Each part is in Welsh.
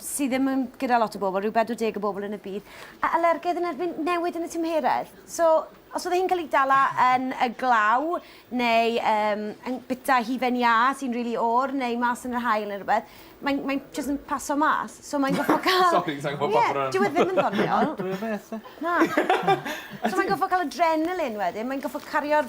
sydd ddim yn gyda lot o bobl, rhyw 40 o bobl yn y byd, a alergedd yn erbyn newid yn y tymheredd. So, os oedd hi'n cael ei dala yn y glaw, neu um, yn bita hufen iâ sy'n rili really or, neu mas yn yr hael neu rhywbeth, mae'n mae jyst yn paso mas. So mae'n goffa cael... Sorry, sa'n gwybod yeah, bron. Dwi e ddim yn ddoniol. Dwi'n beth, e? Na. so mae'n goffa cael adrenalin wedyn, mae'n goffa cario'r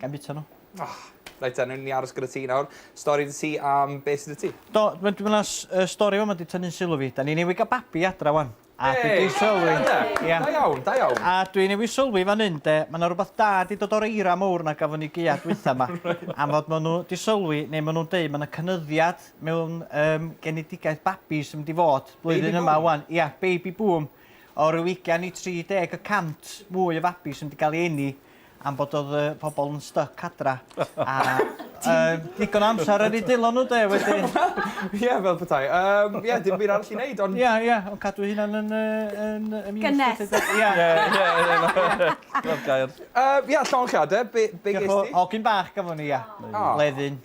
Ga'i bita nhw? Oh. Reit ta, newn ni aros gyda ti nawr. Stori dy ti am beth sydd dy ti? Do, mae dwi'n meddwl y uh, stori yma wedi tynnu'n sylw fi. Da ni newydd gael babi adra wan. A hey, dwi wedi sylwi... Yeah. Da iawn, da iawn. A dwi newydd sylwi fan hyn, de, mae yna rhywbeth da di dod o'r eira mowr na gafon ni geia dwytha yma. Am fod maen nhw di sylwi, neu maen nhw'n deud, mae yna cynyddiad mewn um, genedigaeth babi sy'n mynd i fod blwyddyn yma wan. Ia, yeah, baby boom. O ryw 20 i 30 y cant mwy o fabi sy'n mynd i gael ei enni am bod oedd y pobl yn styc adra. A uh, digon o amser ar ei dilo nhw de wedyn. Ie, fel petai. Um, ie, dim byd arall i wneud, ond... Ie, ie, ond cadw hynna'n yn... yn, yn Gynnes. Ie, ie, ie. Fel gair. Ie, llonchiadau, be, be ges ti? Hogyn bach gafon ni, ia. Leddyn.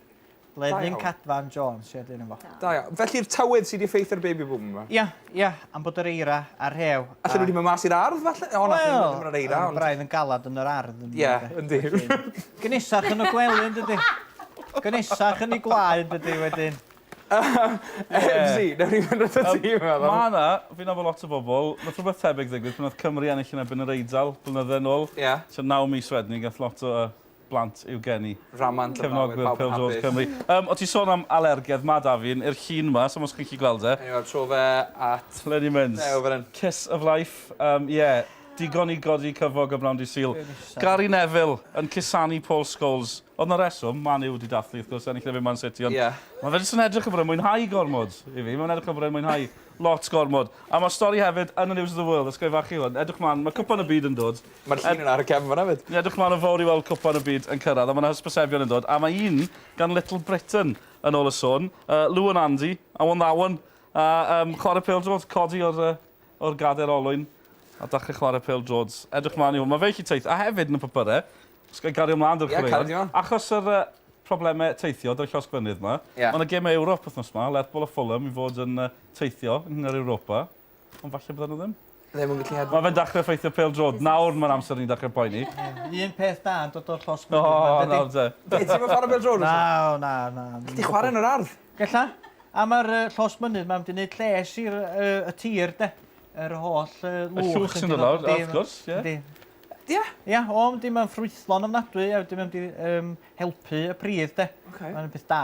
Blevyn Cadfan Jones, ie, dyn efo. Da iawn. Felly'r tywydd sydd wedi effeithio ar baby boom yma? Ia, ia, am bod yr eira a'r rhew. Allan nhw wedi mynd mas i'r ardd falle? O, na, well, ddim yr eira. Ond... braidd yn galad yn yr ardd. Ie, yeah, yndi. Gynesach yn y gwely yn dydy. Gynesach yn ei gwlau yn dydy wedyn. Ebsi, nawr i fynd at y tîm. Mae yna, fi'n nabod lot o bobl, mae rhywbeth tebyg ddigwydd pan oedd Cymru ennill yn ebyn yr Eidal blynydde yn ôl. Ie. Yeah. So naw mis wedyn, gath lot o blant i'w geni. Rhamant yn fawr, mae pawb yn hapus. Cymru. Um, o ti sôn am alergedd, mae da fi'n i'r llun yma, so mos chi'n chi gweld e. Anyway, tro fe at... Len i mynd. Ew, fan Kiss of life, um, yeah. Digon i godi cyfog y bnawn di syl. Gary Neville yn cusanu Paul Scholes. Oedd na reswm, Man U wedi dathlu, wrth gwrs, ennill na fe Man City, ond... Yeah. Mae fe jyst yn edrych yn bod yn mwynhau gormod i fi. Mae'n edrych yn bod yn mwynhau lot gormod. A mae stori hefyd yn y News of the World, ysgrifennu hwn. Edrych mlaen, mae cwpan y byd yn dod. Ma'r llun yna ar y cefn fanna 'fyd. Ni'n edrych mlaen yn fawr i weld Cwpan y Byd yn cyrraedd a mae 'na hysbysebion yn dod a mae un gan Little Britain yn ôl y sôn. Yy Lou and Andy, Awen Ddawen a yym chwarae pêl-droed, codi o'r yy o'r gader olwyn a dachre chwarae pêl-droed. Edrych mlaen i hwn. Mae fe gallu teith- a hefyd yn y papure, os ga'i gario mlaen 'da'r chwaraeon. Ie, cario mlaen. Achos yr yy probleme teithio 'da'r llosgfynydd 'ma. Ie. Mae 'na gêmau Ewrop wythnos 'ma, Lerpwl a Fulham i fod yn yy teithio yng Ngwyngar Europa. Ond falle bydden nhw ddim. Ddim yn gallu Mae fe'n dechrau effeithio pêl drod. Nawr mae'r amser ni'n dechrau poeni. Un peth da yn dod o'r llosg. O, nawr te. Ti ddim yn chwarae pêl drod? Na, na, na. Ti'n chwarae yn yr ardd? Gella. A mae'r llosg mynydd mae'n mynd i wneud lles i'r y tir, de. Yr holl lwch. Y llwch sy'n dod lawr, wrth gwrs. Yndi. Ia? Ia, o, yndi, mae'n ffrwythlon ofnadwy, a wedyn mae'n helpu y pridd, de. Mae'n peth da.